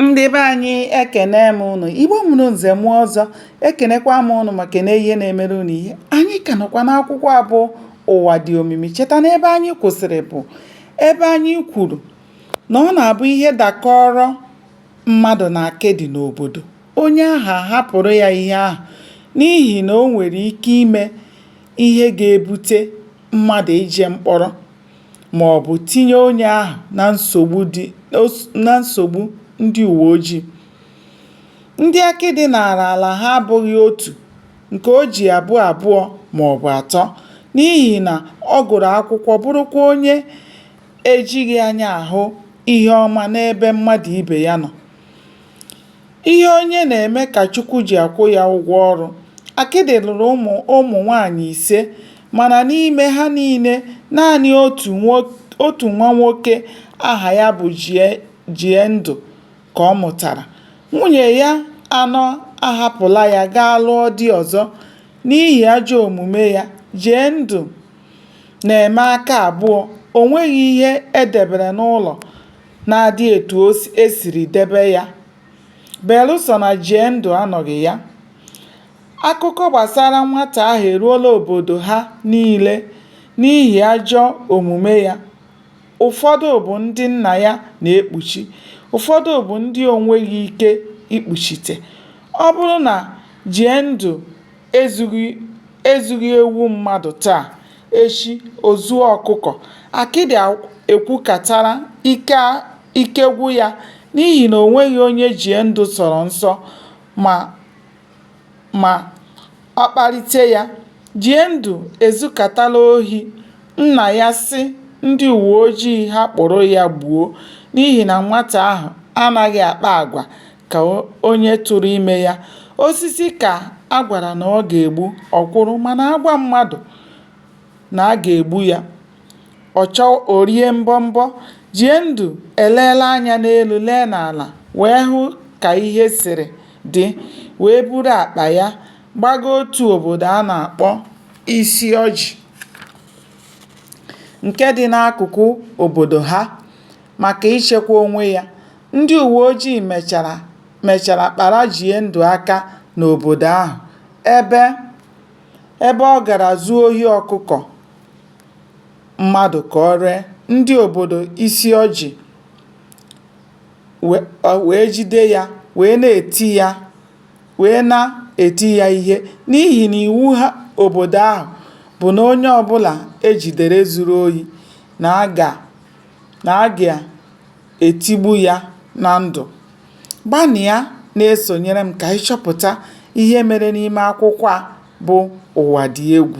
ndị be anyị ekene m ụnụ igbo mụrụ nze mụọ ọzọ ekenekwa m ụnụ ma kene ihe na-emere ụnụ ihe anyị ka nọkwa n'akwụkwọ a bụ ụwa dị omimi cheta na ebe anyị kwụsịrị bụ ebe anyị kwuru na ọ na-abụ ihe dakọrọ mmadụ na akịdị n'obodo onye ahụ ahapụrụ ya ihe ahụ n'ihi na o nwere ike ime ihe ga-ebute mmadụ ije mkpọrọ ma ọ bụ tinye onye ahụ na nsogbu dị na nsogbu ndị uwe ojii. Ndị akịdị naara ala ha abụghị otu nke o ji abụ abụọ ma ọ bụ atọ n'ihi na ọ gụrụ akwụkwọ bụrụkwa onye ejighị anya ahụ ihe ọma n'ebe mmadụ ibe ya nọ. Ihe onye na-eme ka Chukwu ji akwụ ya ụgwọ ọrụ. Akịdị lụrụ ụmụ ụmụ nwaanyị ise mana n'ime ha niile, naanị otu nwo otu nwa nwoke aha ya bụ Jie Jiendụ ka ọ mụtara. Nwunye ya anọ ahapụla ya gaa lụọ di ọzọ. N'ihi ajọ omume ya, Jiendụ na-eme aka abụọ, o nweghị ihe e debere n'ụlọ. na-adị etu o si- e siri debe ya. Belụsọ na Jiendụ anọghị ya, akụkọ gbasara nwata ahụ eruola obodo ha niile n'ihi ajọ omume ya. Ụfọdụ bụ ndị nna ya na-ekpuchi, ụfọdụ bụ ndị o nweghị ike ikpuchite. Ọ bụrụ na Jiendụ ezughị ezughị ewu mmadụ taa, eshi o zuo ọkụkọ, akịdị ekwukatara ike ike gwụ ya n'ihi na o nweghị onye Jiendụ sọrọ nsọ ma ma ọ kparịte ya. Jiendụ ezukatala ohi, nna ya sị ndị uweojii ha kpụrụ ya gbuo n'ihi na nwata ahụ anaghị akpa agwa. ka onye tụrụ ime ya. Osisi ka a gwara na ọ ga-egbu, ọ kwụrụ, mana a gwa mmadụ na a ga-egbu ya, ọ chọọ, o rie mbọmbọ. Jiendụ eleela anya n'elu, lee n'ala wee hụ ka ihe siri dị, wee buru akpa ya gbaga otu obodo a na-akpọ Isiọjị nke dị n'akụkụ obodo ha maka ichekwa onwe ya. Ndị uweojii mechara mechara kpara Jiendụ aka n'obodo ahụ ebe ebe ọ gara zuo ohi ọkụkọ mmadụ ka o ree ndị obodo Isiọjị we wee jide ya wee na-eti ya wee na-eti ya ihe n'ihi na iwu ha obodo ahụ bụ na onye ọbụla e jidere zuru ohi na a ga na a ga-etigbu ya na ndụ. Gbanịa na-esonyere m ka anyị chọpụta ihe mere n'ime akwụkwọ a bụ Ụwa Dị Egwu.